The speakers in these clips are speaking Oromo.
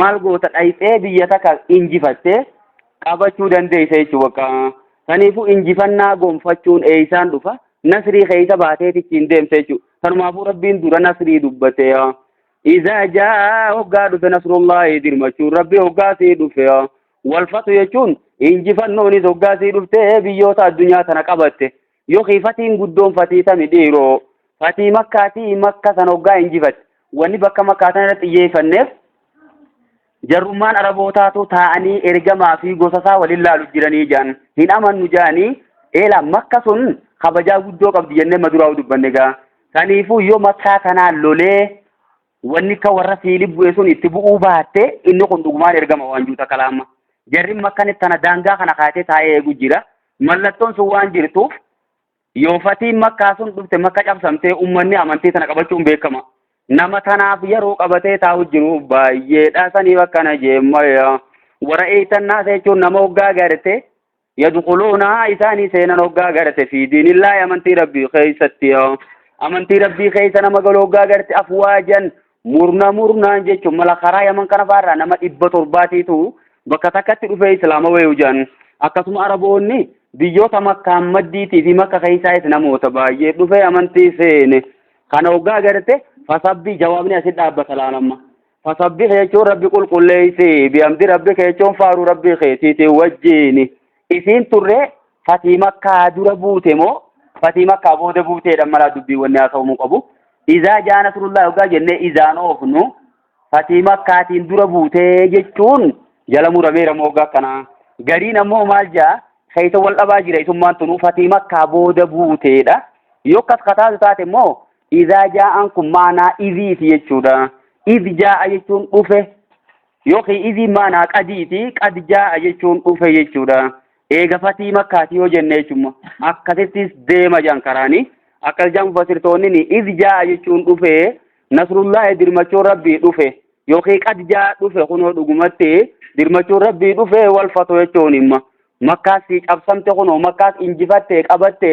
maal goota dhayxee biyya takka injifattee qabachuu dandeessa jechuudha bakka saniifuu injifannaa gonfachuun eeysaan dhufa nasrii keeysa baatee tichiin deemte jechuudha sanumaafuu rabbiin dura nasrii dubbate izaa jaa hoggaa dhufe nasrullaahi dirmachuun rabbi hoggaa sii dhufe walfatu jechuun injifannoonis hoggaa sii dhufte biyyoota addunyaa tana qabatte Yookiin fatiin guddoon fatii tami dhiiroo fatii makkaatii makka san hoggaa injifatti wanni bakka makkaa san irratti xiyyeeffanneef jarrummaan arabootaatu taa'anii ergamaa fi gosa isaa waliin laalu jiranii jaan hin amannu jaanii eela makka sun kabajaa guddoo qabdi jennee maduraa dubbanne gaa kaniifuu yoo makkaa kanaan lolee wanni akka warra siilii bu'e sun itti bu'uu baatte inni kun dhugumaan ergama waan juuta kalaama jarri makkanitti tana daangaa kana kaatee taa'ee eegu jira Mallattoon sun waan jirtuuf yoo fatiin makkaa sun dhufte makka cabsamtee ummanni amantii tana qabachuun beekama. Nama tanaaf yeroo qabatee taa'u jiru baay'eedha saniif akkana jeemmaya. Warra eeytannaa jechuun nama hoggaa garte yadukuluuna isaanii seenan hoggaa garte fi diinillaahi amantii rabbii keessatti amantii rabbii keessa nama galu hoggaa garte afwaajan Murna murnaan jechuun mala karaa yaman kana faarraa nama dhibba torbaatiitu bakka takkatti dhufee islaama wayuu jedhan akkasuma araboonni biyyoota makkaan maddiitii fi makka keessaayis namoota baay'ee dhufee amantii seene kana hoggaa garte fasabbii jawaabni asit dhaabbata laalamma fasabbii jechuun rabbi qulqulleessee bihamdi rabbi jechuun faaruu rabbi keetiitiin wajjiini. Isiin turree fatii makkaa dura buute moo fatii makkaa booda buuteedha malaa dubbii wanni haasa'umuu qabu izaa jaa nasrullaa hoggaa jennee izaan oofnu fatii makkaatiin dura buutee jechuun jala murameera moo hoggaa akkanaa gariin ammoo maal jaa keessa wal dhabaa jira isummaan tunuu fatii makkaa booda buuteedha yoo akkas kataatu taate immoo izaa jaa'an kun maanaa iziiti jechuudha iz jaa'a jechuun dhufe Yookiin iziin maanaa qadiiti, qad jaa'a jechuun dhufe jechuudha. Eega fatii makkaati yoo jenne jechuun akkasittis deema jedhan karaani. Akka jechaan mufassirtoonni iz jaa'a jechuun dhufe nasrullaahi dirmachuun rabbii dhufe yookiin qad jaa'a dhufe kunoo dhugumatti dirmachuun rabbii dhufe wal fatu jechuun himma. Makkaas sii cabsamte kunoo makkaas injifatte qabatte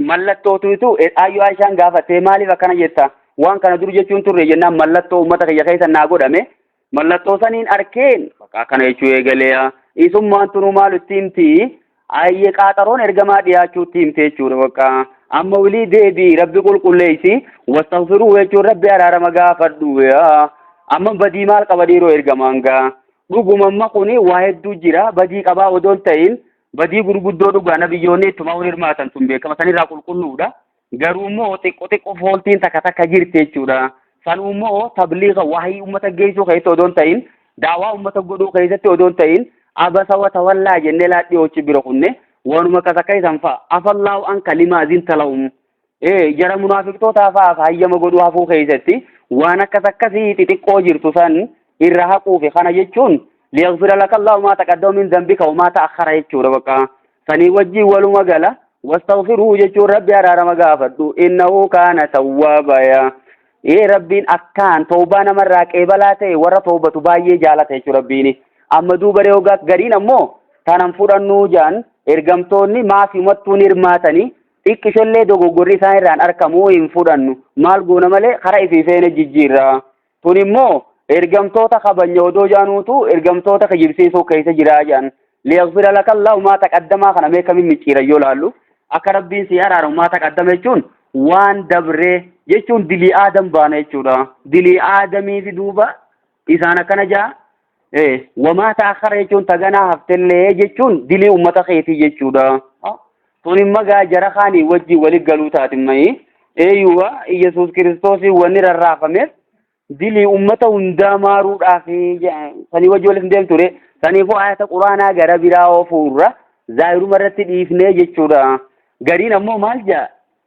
Mallattootu itu Ayyoo Aishaan gaafattee maaliif akkana jetta waan kana dur jechuun turre jennaan mallattoo uummata kiyya keessa naa godhame mallattoo saniin arkeen bakka akkana jechuu eegaleeya isummaan tunuu maal itti himti ayyee qaaxaroon ergamaa dhiyaachuutti himte jechuudha bakka amma wilii deebii rabbi qulqulleessi wastaghfiruu jechuun rabbi araarama gaafadhu amma badii maal qaba dhiiroo ergamaan gaa dhuguma amma kuni waa hedduu jira badii qabaa odoon ta'in Badii gurguddoo dhugaa nabiyyoonni ittumaa wal hirmaatan sun beekama sanirraa qulqulluudha. Garuu immoo xiqqoo xiqqoo fooltiin takka takka jirti jechuudha. Sanuu immoo tabliiga waahii uummata geessuu keessatti odoo hin ta'in daawaa uummata godhuu keessatti odoo hin ta'in abasa wa tawallaa jennee laadhii hojii bira kunne waanuma akkas akka isan fa'a afallaahu an kalimaa zinta lahum Ee, jara munaafiqtootaa fa'aaf hayyama godhuu hafuu keessatti waan akkas akkasii xixiqqoo jirtu san irra haquufi kana jechuun liyaghfira laka Allahu maa taqaddama min dhanbika wa maa ta'akhkhara jechuudha bakka sanii wajjin waluma gala wastaghfirhu jechuun rabbi araarama gaafadhu innahu kaana tawwaaba yaa ee rabbiin akkaan toobaa namarraa qeebalaa ta'e warra toobatu baay'ee jaalata jechuudha rabbiini amma duuba reegaa gariin ammoo tanan fudhannuu jaan ergamtoonni maafimattuun hirmaatanii Xiqqishollee dogoggorri isaan irraan arkamu hin fudhannu. Maal goona malee kara ifii feene jijjiirra. Tun immoo ergamtoota kabanya odoo jaanuutu ergamtoota kijibsiisuu keessa jiraa jaan. Liyagfira laka Allahu maa taqaddamaa kana mee kamiin micciiran yoo laallu. Akka Rabbiin sii araaramu maa taqaddama jechuun waan dabree jechuun dilii aadam baana jechuudha. Dilii aadamiifi duuba Isaan akkana ja'a wamaa ta'akkara jechuun taganaa haftellee jechuun dilii ummata keetii jechuudha. Tun imma gaa jara kaanii wajji wali galuu taatimmayi. Eeyyuwa Iyyasuus Kiristoosii wanni rarraafameef dilii ummata hundaa maaruudhaaf sanii wajji walitti deemtu ture. Saniifuu ayata quraanaa gara biraa oofuurra zaahiruma irratti dhiifnee jechuudha. Gariin ammoo maal ja'a?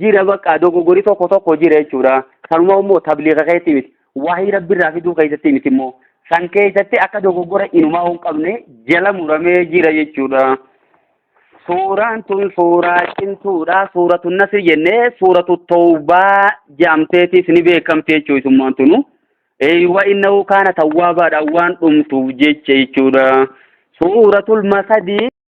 jira bakka dogoggori tokko tokko jira jechuudha. Kanuma immoo tabliiqa keessatti miti. Waahii rabbirraa fiduu keessatti miti immoo. San keessatti akka dogoggora inumaa hin qabne jala muramee jira jechuudha. Suuraan tun suuraa cimtuudha. Suuratu Nasri jennee suuratu Tawbaa jaamteetis ni beekamte jechuudha isummaan tunu. Eeywa innahu kaana tawwaabaadha waan dhumtuuf jecha jechuudha. Suuratul Masadii